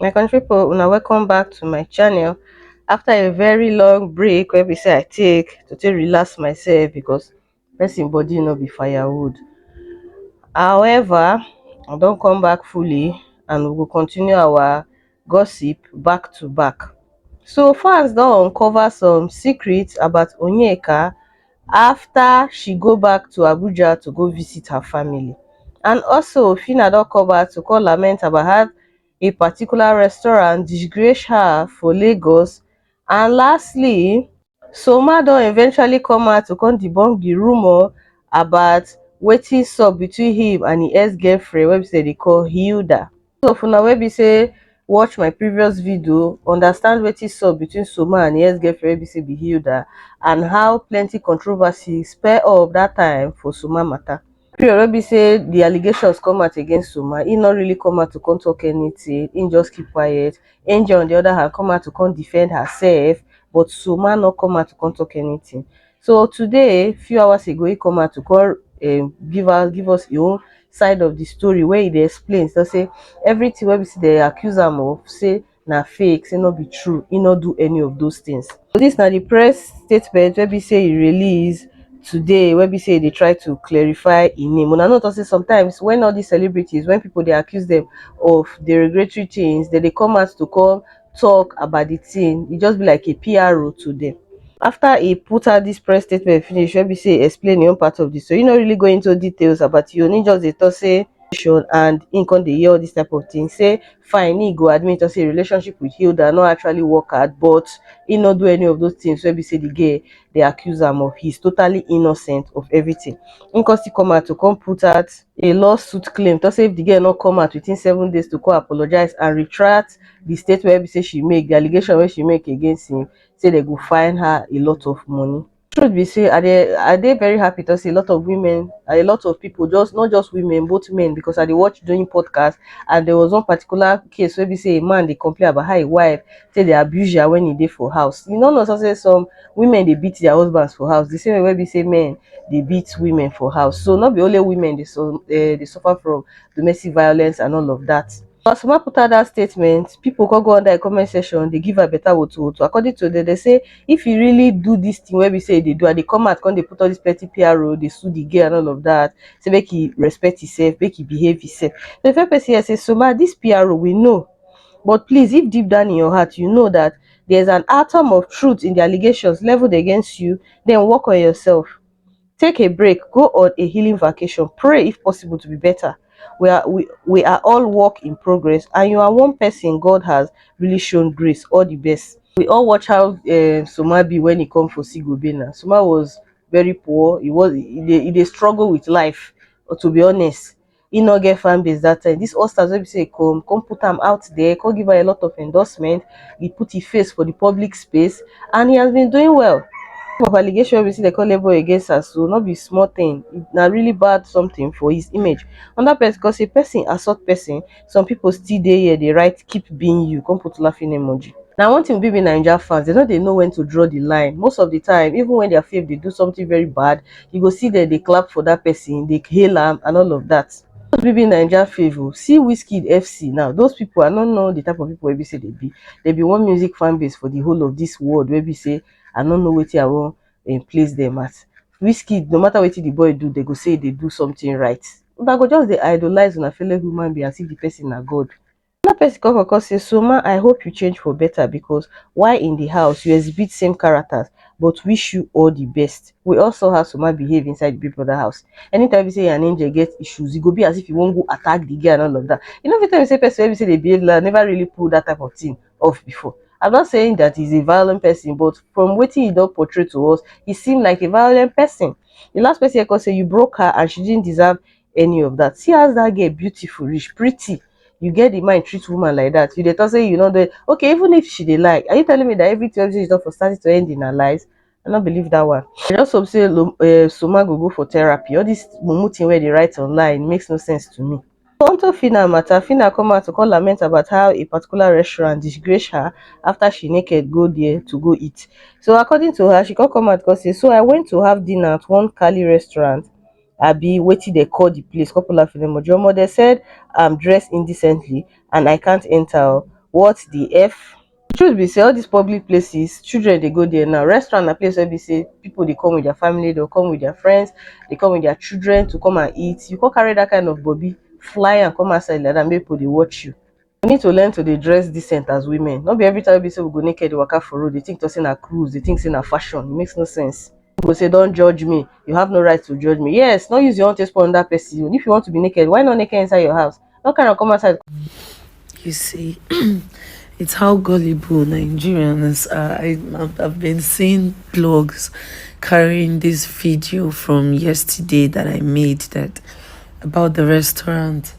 my country people una welcome back to my channel after a very long break where we say i take to take relax myself because person body no be firewood however i don't come back fully and we will continue our gossip back to back so fans don uncover some secrets about onyeka afta she go back to abuja to go visit her family and also phyna don come back to come lament about how a particular restaurant disgrace her for lagos And lastly, Soomah don eventually come out to come debunk the rumour about wetin sup between him and him ex-girlfriend wey be say dey call Hilda. So for una wey be say watch my previous video, understand wetin sup between Soomah and him ex-girlfriend wey be say be Hilda and how plenty controversy spur up that time for Soomah matter. period wey be say the allegations come out against Umar, he no really come out to come talk anything, he just keep quiet. Angel on the other hand come out to come defend herself, but Suma no come out to come talk anything. So today, few hours ago, he come out to come um, give us give us his own side of the story where he dey explain. So say everything wey we see they accuse am of, say na fake, sey no be true, e no do any of those things. So dis na di press statement wey be sey e release today wey be sey e dey try to clarify im name. Una know talk sey sometimes when all dis celebrities when people dey accuse dem of derogatory things, dem dey come out to come talk about di thing, e just be like a PRO to dem. After e put out dis press statement finish wey be sey e explain im own part of di story, e no really go into details about im own, im just dey talk sey and im come dey hear all dis type of thing sey fine e go admit say e relationship with hilda no actually work out but e no do any of those things wey be say the girl dey accuse am of he's totally innocent of everything him come still come out to come put out a lawsuit claim to say if the girl no come out within seven days to come apologize and retract the statement wey be say she make the allegation wey she make against him say they go fine her a lot of money truth be say i dey i dey very happy to see a lot of women and a lot of people just not just women both men because i dey watch doing podcast and there was one particular case where we say a man they complain about how a wife say they abuse her when he did for house you know no so say some women they beat their husbands for house the same way where we say men they beat women for house so not be only women they so uh, they suffer from domestic violence and all of that Pasuma put out that statement, people go go under the comment section, they give her better woto woto. According to them, they say if you really do this thing wey be say you dey do and dey come out come dey put all this plenty PRO, dey sue the girl and all of that, say make he respect himself, make he behave himself. So the first person here say, so ma, this PRO we know, but please if deep down in your heart you know that there's an atom of truth in the allegations leveled against you, then work on yourself. take a break go on a healing vacation pray if possible to be better we are we, we are all work in progress and you are one person god has really shown grace all the best we all watch how uh, soma be when he come for sigobena soma was very poor he was he, he, he struggle with life to be honest e no get fan base that time this Ostars wey be say come come put am out there come give am a lot of endorsement he put his face for the public space and he has been doing well of allegation wey be say they call label against her so not be small thing na really bad something for his image another person cause a person assault person some people still dey here they write keep being you come put laughing emoji Now, one thing with BB Naija fans, they know they know when to draw the line. Most of the time, even when their fave they do something very bad, you go see dem dey clap for that person, dey hail am and all of that. Those be be Naija fave o. See Wizkid FC now, those people I no know the type of people wey be say they be. They be one music fan base for the whole of this world wey be say I no know wetin I wan um, place them as. Wizkid, no matter wetin the boy do, they go say e dey do something right. Una go just dey idolize una fellow human being as if the person na God. Another person come come come say Soma I hope you change for better because while in the house you exhibit same characters but wish you all the best. We all saw how Soma behave inside the Big Brother house. Anytime we be say an angel get issues, e go be as if you wan go attack the girl and all of that. You know fit tell me say person wey be say dey behave like never really pull that type of thing off before. I'm not saying that he's a violent person but from wetin he don portray to us, he seem like a violent person. The last person here come say you broke her and she didn't deserve any of that. See as that girl beautiful reach, pretty. You get the mind treat woman like that. You dey talk say you know the okay, even if she dey lie, are you telling me that everything she done for starting to end in her lies? I don't believe that one. I just hope say Lo- eh, Soma go go for therapy. All this mumu thing where they write online makes no sense to me. Onto Fina matter, Fina come out to come lament about how a particular restaurant disgraced her after she naked go there to go eat. So according to her, she come come out because say, so I went to have dinner at one Cali restaurant abi wetin dem call the place come pull out phone emoji. Omo dem said I'm dressed indecently and I can't enter o. What the F? The truth be say all these public places children dey go there now. Restaurant na place wey be say people dey come with their family, dey come with their friends, dey come with their children to come and eat. You come carry that kind of body fly am come outside like that make people dey watch you. We need to learn to dey dress decent as women, no be every time wey be sey we go naked dey waka for road dey think talk sey na cruise, dey think sey na fashion, e makes no sense. Pipu go sey don't judge me, you have no right to judge me, yes no use your own take spoil another person own, if you want to be naked why not naked inside your house, no carry am come outside. You see um it's how gullible Nigerians are, I have been seeing blogs carrying this video from yesterday that I made that about the restaurant.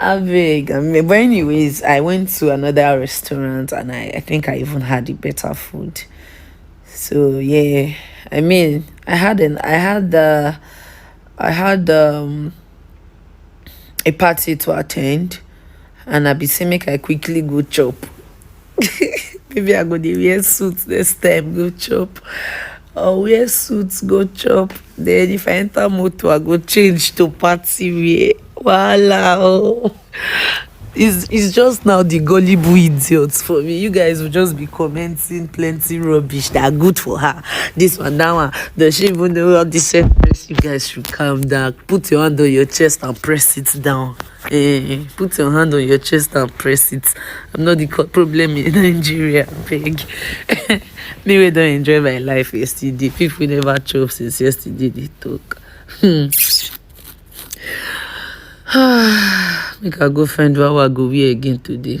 Abeg, abeg. But anyways, I went to another restaurant and I, I think I even had a better food. So yeah, I mean, I had an I had the I had um a party to attend, and I be say make I quickly go chop. maybe i go dey wear suit next time go chop or wear suit go chop then if i enter motor i go change to party wear wahala oh it's it's just now the gullible idiots for me you guys will just be commenting plenty rubbish that are good for her this one that one does she even know all this self you guys should calm down put your hand on your chest and press it down Hey, eh, put your hand on your chest and press it. I'm not the problem in Nigeria, beg. Me, we don't enjoy my life yesterday. People never chop since yesterday, they talk. Hmm. Make I go find what I go wear again today.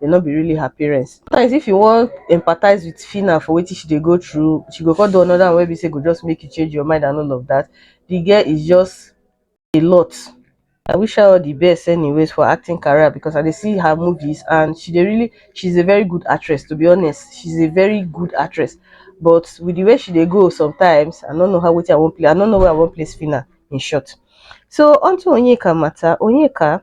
dem no be really her parents. Sometimes if you wan empathize with Fina for wetin she dey go through, she go come do another one wey be say go just make you change your mind and all of that. The girl is just a lot. I wish her all the best anyways for acting career because I dey see her movies and she dey really she's a very good actress to be honest. She's a very good actress but with the way she dey go sometimes I no know how wetin I wan play. I no know where I wan place Fina in short. So onto Onyeka matter. Onyeka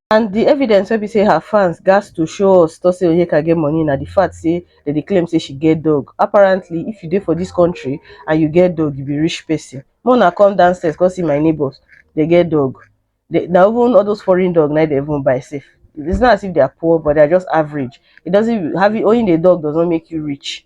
And di evidence wey be say her fans gatz to show us Tosin Onyeka get money na di fact say dem dey claim say she get dog. Apparently, if you dey for dis country and you get dog, you be rich person. Make una come downstairs come see my neighbours, dem get dog. They, na even all those foreign dog na dem even buy sef. It's not as if they are poor, but they are just average. It doesn't, having, owning a dog does not make you rich.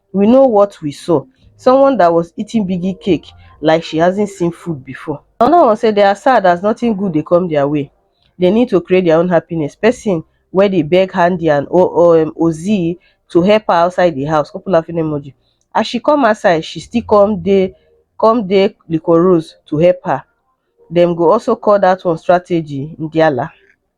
we know what we saw. Someone that was eating biggie cake like she hasn't seen food before. Another one say they are sad as nothing good dey come their way. They need to create their own happiness. Person where they beg Handy and o o um, Ozzy to help her outside the house. Couple laughing emoji. As she come outside, she still come dey come dey Liquor Rose to help her. Them go also call that one strategy, Ndiala.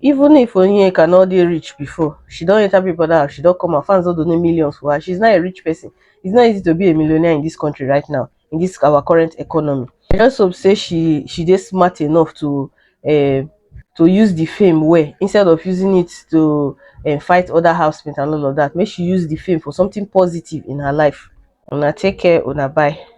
Even if Onyeka no dey rich before, she don enter Big Brother house, she don come out, fans don donate millions for her, she's now a rich person. It's not easy to be a millionaire in this country right now, in this our current economy. I just hope say she she dey smart enough to um to use the fame well instead of using it to um fight other housemates and all of that. Make she use the fame for something positive in her life. Una take care, una bye.